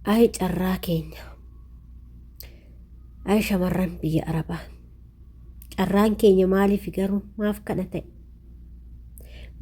Ayi carraa keenya. Ayi shamarran biyya Arabaa. Carraan keenya maaliif garuu maaf kana ta'e?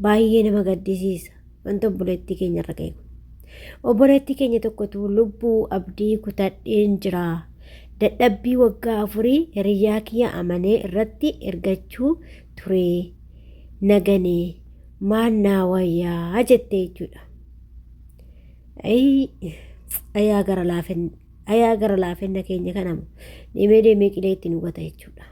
Baay'ee nama gaddisiisa. Wanta obboleettii keenya irra ga'e kun. Obboleettii keenya tokkotu lubbuu abdii kutadheen jira. Dadhabbii waggaa afurii hiriyyaa kiyya amanee irratti ergachuu ture. Naganee maal naa wayyaa jette jechuudha. Ayii ayaa gara laafinna ayaa gara laafinna keenya kanamu deemee deemee qilee itti nu gata jechuudha.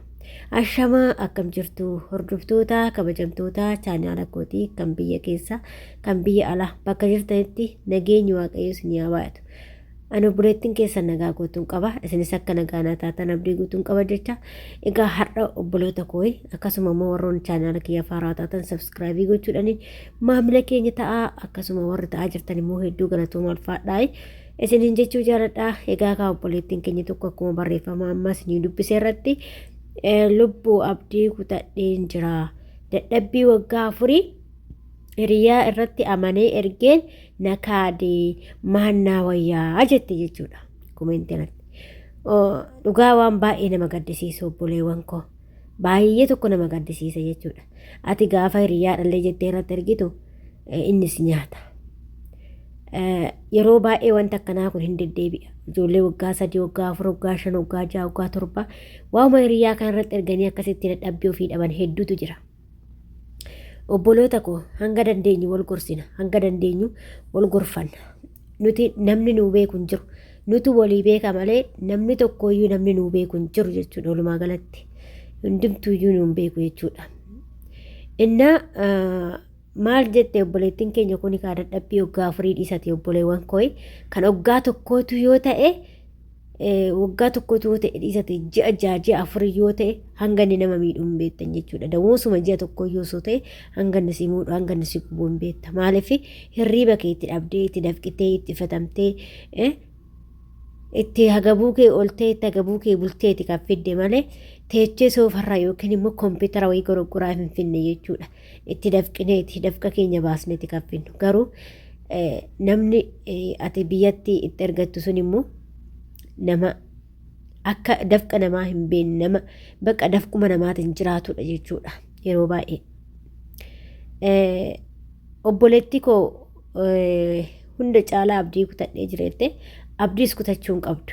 Ashamaa akkam jirtu hordoftoota kabajamtoota chaanaala kootii kan biyya keessa kan biyya alaa bakka jirtanitti nageenyi waaqayyo isin yaa baay'atu. Ani obboleettiin keessan nagaa guutuun qaba. Isinis akka nagaa naa taatan abdii guutuun qaba jecha. Egaa har'a obboloota kooyi akkasuma immoo warroonni chaanaala kiyya faaraa taatan sabskraayibii gochuudhaani Maamila keenya ta'aa akkasuma warri ta'aa jirtan immoo hedduu galatooma ulfaadhaa. Isiniin jechuu jaaladhaa. Egaa kaa obboleettiin keenya tokko akkuma barreeffama ammaa isinii dubbise irratti eh, lubbuu abdii kutadheen jira. Dadhabbii waggaa afurii hiriyaa irratti amanee ergeen na kaadee maannaa wayyaa jette jechuudha. Komentiin irratti. Oh, Dhugaa waan baay'ee nama gaddisiisu obboleewwan koo. Baay'ee tokko nama gaddisiisa jechuudha. Ati gaafa hiriyaadhallee jettee irratti ergitu eh, innis nyaata. Eh, Yeroo baay'ee wanti akkanaa kun hin deddeebi'a. Ijoollee waggaa sadii, waggaa afur, waggaa shan, waggaa ja'a, waggaa torba waa'uma hiriyaa kana irratti erganii akkasitti dadhabbii ofii dhaban hedduutu jira. Obboloota koo hanga dandeenyu wal gorsina, hanga dandeenyu wal gorfanna. Nuti namni nuu beeku hin jiru. Nutu walii beeka malee namni tokkooyyuu namni nuu beeku hin jiru jechuudha walumaa galatti. Hundumtuuyyuu nuun beeku jechuudha. Innaa ah, maal jette obboleettiin keenya kun kaa dadhabbii waggaa afurii dhiisati obboleewwan kooyi kan waggaa tokkootu yoo ta'e waggaa tokkotu yoo ta'e dhiisa ta'e ji'a ja'a ji'a afur yoo ta'e hanga inni nama miidhu hin beektan jechuudha. Dawoosuma ji'a tokko yoo soo ta'e hanga inni si muudhu hanga inni si gubu hin beekta. Maaliif hirriiba kee itti dhabdee itti dafqitee itti fatamtee itti hagabuu kee oltee itti hagabuu kee bulteeti kan fidde malee teechee soofarraa yookiin immoo kompiitara wayii goroggoraa hin finne jechuudha. itti dafqineeti dafqa keenya baasneeti kan finnu garuu namni ati biyyatti itti ergattu sun immoo nama akka dafqa namaa hin beekne nama bakka dafquma namaatiin jiraatudha jechuudha yeroo baay'ee. Obboleettii koo hunda caalaa abdii kutadhee jireette abdiis kutachuu hin qabdu.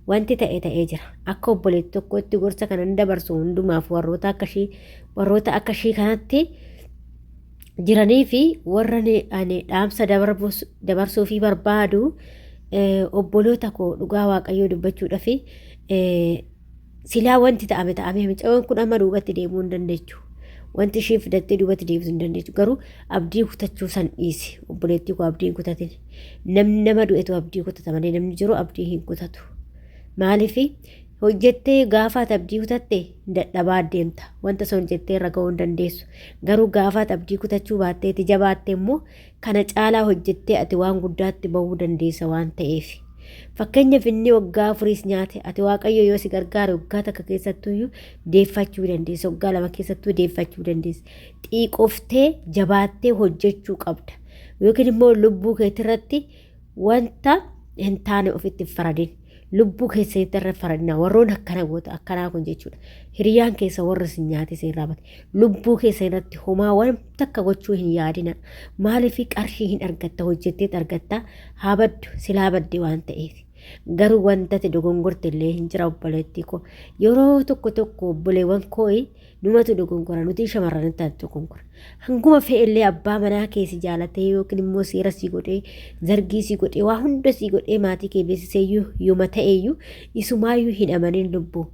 Wanti ta'e ta'ee jira. Akka obboleetti tokkootti gorsa kanan dabarsu hundumaaf warroota akka ishii warroota akka ishii kanatti jiranii fi warra ni- ani dhaamsa dabarbuus- dabarsuu fi barbaadu eh, obboloota koo dhugaa waaqayyoo dubbachuudhaaf eh, Silaa wanti ta'ame ta'amee micayoon kun amma duubatti deemuu hin dandeechu. Wanti ishiin fidattee duubatti deebisu hin dandeechu. Garuu abdii kutachuu san dhiisi. Obboleettii koo abdii hin kutatin. Namni nama du'etu abdii kutata malee namni jiru abdii hin kutatu. Maaliif hojjettee gaafaat abdii kutatte hin dadhabaa deemta. Wanta sun hojjettee irra ga'uu hin dandeessu. Garuu gaafaat abdii kutachuu baatteeti jabaatte immoo Kana caalaa hojjettee ati waan guddaatti ba'uu dandeessa waan ta'eef. Fakkeenyaaf inni waggaa afuriis nyaate ati waaqayyo yoo si gargaare waggaa takka keessattuyyuu deeffachuu dandeessa waggaa lama keessattuu deeffachuu dandeessa xiiqoftee jabaattee hojjechuu qabda yookiin immoo lubbuu keetirratti wanta hin taane ofitti hin faradin lubbuu keessanitti irra faradina warroon akkana goota akkanaa kun jechuudha hiriyaan keessa warra isin nyaate isin raabate lubbuu keessa irratti homaa waan takka gochuu hin yaadina maaliif qarshii hin argatta hojjetteet argatta haa baddu silaa badde waan ta'eef garuu wantati dogongorte illee hin jira obboleettii koo yeroo tokko tokko obboleewwan koo Numatu dogonkora nuti shamarranitti ati dogonkora. Hanguma fe'ellee abbaa manaa kee si jaalatee yookiin immoo seera si godhee zargii si godhee waa hunda si godhee maatii kee beeksiseeyyuu yooma ta'eeyyuu isumaayyuu hin amanin lubbuu.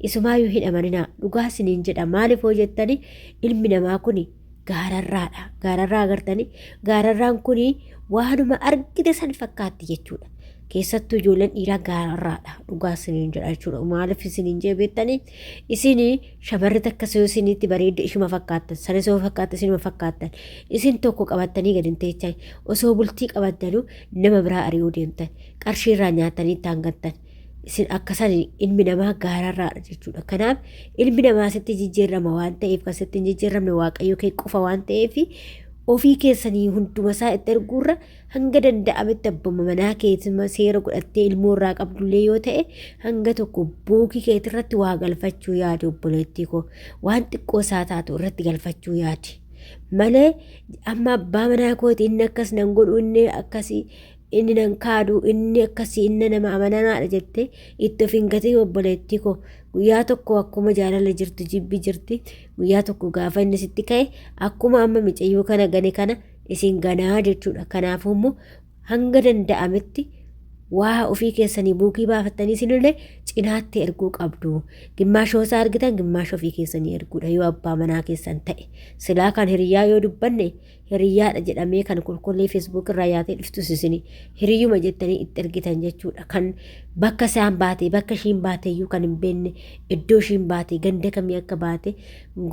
Isumaayyuu hin amaninaa dhugaa siniin jedha maaliif hoo jettanii ilmi namaa kuni gaararraadha. Gaararraa agartanii gaararraan kun waanuma argite san fakkaatti jechuudha. Keessattuu ijoolleen dhiiraa gaararraadha. Dhugaa isiniin jedha jechuudha. Maaliif isiniin jee beektanii isin shamarri takka yoo isinitti bareedde ishuma fakkaattan sanis yoo fakkaatte isinuma fakkaattan isin tokko qabattanii gadi hin teechan osoo bultii qabattanu nama biraa ari'uu deemtan qarshii irraa nyaatanii ittaan gattan. isin akka san ilmi namaa gaararraadha jechuudha. Kanaaf ilmi namaa sitti jijjiirrama waan ta'eef kan sitti hin jijjiirramne waaqayyo kee qofa waan ta'eef ofii keessanii hunduma isaa itti erguurra hanga danda'ametti abbuma manaa keessuma seera godhattee ilmoo irraa qabdullee yoo ta'e hanga tokko bookii keetirratti waa galfachuu yaadi obboleettii koo waan xiqqoo isaa taatu irratti galfachuu yaadi. malee amma abbaa manaa kooti inni akkas nan godhu inni akkasii inni nan kaadu inni akkasii inni nama amanamaadha jettee itti of hin gatiin obboleettii koo guyyaa tokko akkuma jaalala jirtu jibbi jirti guyyaa tokko gaafa inni sitti ka'e akkuma amma micayyoo kana gane kana isin ganaa jechuudha kanaafuu immoo hanga danda'ametti waa ofii keessanii buukii baafattanii isinillee cinaatti erguu qabdu gimmaashoo isaa argitan gimmaasha ofii keessanii erguudha yoo abbaa manaa keessan ta'e silaa kan hiriyaa yoo dubbanne hiriyyaadha jedhamee kan kolkollee feesbuuk irraa yaatee dhuftus isin hiriyyuma jettanii itti ergitan jechuudha kan bakka isaan baate bakka ishiin baate iyyuu kan hin beekne iddoo ishiin baate ganda kamii akka baate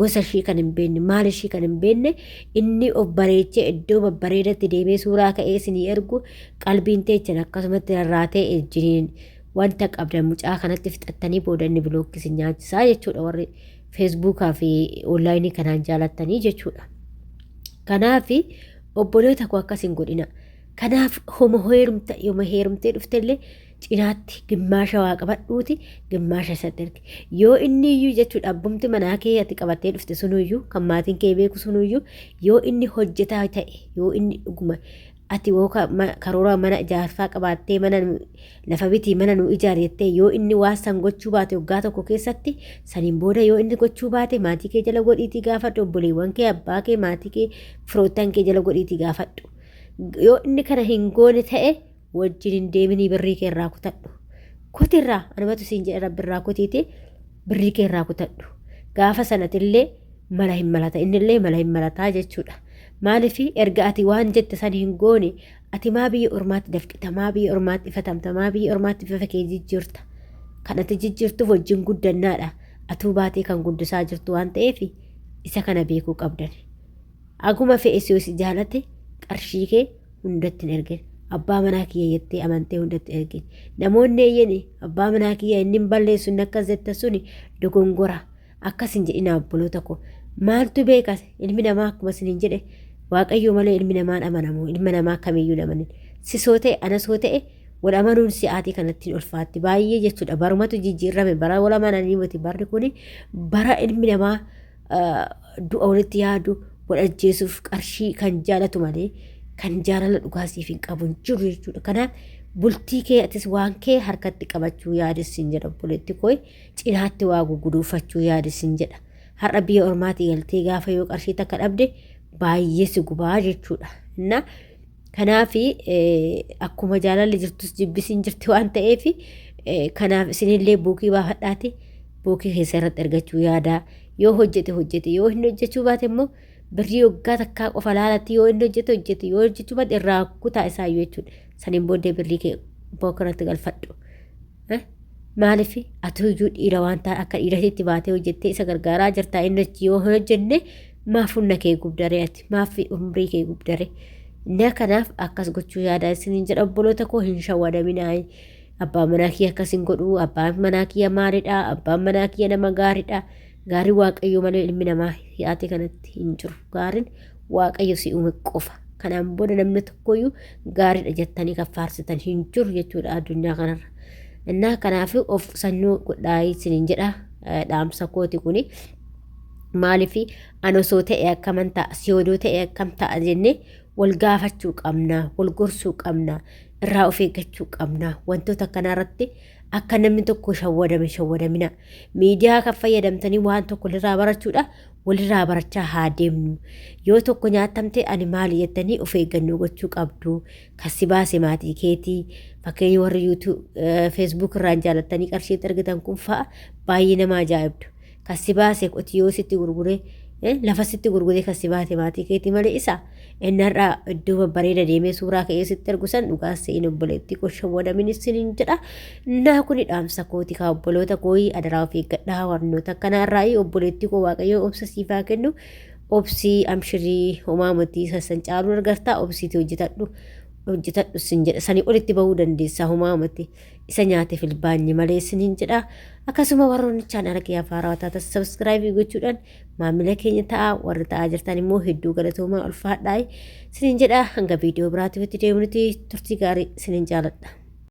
gosa ishii kan hin beekne maal ishii kan hin beekne inni of bareechee iddoo babbareedatti deemee suuraa ka'ee isinii ergu qalbiin teechan akkasumatti rarraatee ejjiniin wanta qabdan mucaa kanatti fixattanii booda inni bilookkisi nyaachisaa jechuudha warri feesbuukaa fi onlaayinii kanaan jaalattanii jechuudha. Kanaaf obboleeta koo akkas hin godhina. Kanaaf homa heerumta yoma heerumtee dhuftellee cinaatti gimmaasha waa qabadhuuti gimmaasha isatti erge. Yoo inni iyyuu jechuudha abbumti manaa kee ati qabattee dhufte sunuyyuu kan maatiin kee beeku sunuyyuu yoo inni hojjetaa ta'e yoo inni dhuguma Ati woo ka, ma, karoora mana ijaarsaa qabaattee mana nu, lafa bitii mana nu ijaari jettee yoo inni waan san gochuu baate waggaa tokko keessatti saniin booda yoo inni gochuu baate maatii kee jala godhiitii gaafadhu obboleewwan kee abbaa kee maatii kee firoottan kee jala godhiitii gaafadhu. Yoo inni kana hin goone ta'e wajjin hin deeminii birrii kee irraa kutadhu. Kutirraa anumatu siin jedhe rabbi irraa kutiitii birrii kee irraa kutadhu. Gaafa sanatillee mala hin malata innillee mala hin malataa jechuudha. Maaliif erga ati waan jette san hin goone ati maa biyya ormaatti dafqita maa biyya ormaatti ifatamta maa biyya ormaatti bifa kee jijjiirta kan ati jijjiirtuuf wajjin guddannaadha atuu baatee kan guddisaa jirtu waan ta'eef isa kana beekuu qabdan. Aguma fe'e si si jaalate qarshii kee hundatti hin ergin abbaa manaa kiyya jettee amantee hundatti ergin namoonni eeyyani abbaa manaa kiyya inni hin balleessu inni akkas jette suni dogongora. Akkas hin jedhinaa obboloota koo. Maaltu beeka ilmi namaa akkuma isiniin jedhe waaqayyoo malee ilmi namaan amanamu ilma namaa kamiyyuu hin amanin. Sisoo ta'e anasoo ta'e wal amanuun si'aatii kanatti hin ulfaatti baay'ee jechuudha barumatu jijjiirrame bara wal amananii miti barri kuni bara ilmi namaa ah, du'a walitti yaadu wal ajjeesuuf qarshii kan jaalatu malee kan jaalala dhugaa siif hin qabu hin jiru jechuudha kanaaf bultii kee atis waan kee harkatti qabachuu yaadessin jedha obboleetti koo cinaatti waa guguduufachuu yaadi sin jedha. Har'a biyya ormaati galtee gaafa yoo qarshii takka dhabde baay'ee si gubaa jechuudha. Innaa kanaaf akkuma jaalalli jirtus jibbisiin jirti waan ta'eef kanaaf isinillee buukii baafadhaati buukii keessa irratti argachuu yaadaa yoo hojjete hojjete yoo hin hojjechuu baate immoo birrii waggaa takkaa qofa laalatti yoo hin hojjete hojjete yoo hojjechuu baate irraa kutaa isaa jechuudha. Saniin booddee birrii kee bookirratti galfadhu. Eh? Maaliif ati iyyuu dhiira waan ta'e akka dhiiratitti baatee hojjettee isa gargaaraa jirtaa inni achi yoo hin hojjenne maaf humna kee gubdaree ati maaf umrii kee gubdaree na kanaaf akkas gochuu yaadaa isiniin jedha obboloota koo hin shawwadaminaa abbaan manaa kiyya akkas hin godhu abbaan manaa kiyya maariidha abbaan manaa kiyya nama gaariidha gaarii waaqayyoo malee ilmi namaa si'aate kanatti hin jiru gaariin Waaqayyo si uume qofa. Kanaan booda namni tokkoyyuu gaariidha jettanii kan faarsitan hin jiru jechuudha addunyaa kanarra. Innaa kanaaf of qusannoo godhaa isiniin jedha dhaamsa kooti kuni. Maaliif an osoo ta'e akkaman ta'a si odoo ta'e akkam ta'a jennee wal gaafachuu qabna wal gorsuu qabna irraa of eeggachuu qabna wantoota kanarratti akka namni tokko shawwadame shawwadamina miidiyaa kan fayyadamtanii waan tokko irraa barachuudha walirraa barachaa haa deemnu. Yoo tokko nyaattamte ani maali jettanii of eeggannoo gochuu qabdu. Kan si baase maatii keeti. Fakkeenya warri YouTube, eh, Facebook irraan jaalattanii qarshii itti argitan kun fa'a baay'ee nama ajaa'ibdu. Kan si baase qotiyoo sitti gurgure, eh, lafa sitti gurgure kan si baate maatii keeti malee isa. Inni har'a iddoo babbareeda deemee suuraa ka'ee sitti ergu san dhugaa se'in obboleettii koo shawwadamin isiniin jedha. Naa kuni dhaamsa kooti kaa obboloota kooyi adaraa of eeggadhaa warnoota akkanaa irraa'ii obboleettii koo waaqayyoo obsa siifaa kennu. Obsii amshirii homaa motii sassan caaluu argartaa obsiitii hojjetadhu hojjetadhu sin jedha sanii olitti bahuu dandeessaa homaa moti isa nyaate filbaanyi malee siniin jedha akkasuma warroonni chaanaala kiyyaa faaraa wataata sabskiraayibii gochuudhaan maamila keenya ta'a warri ta'aa jirtan immoo hedduu galatoomaa ulfaadhaa sinin jedha hanga viidiyoo biraatiif itti deemnuti turtii gaarii sinin jaaladha.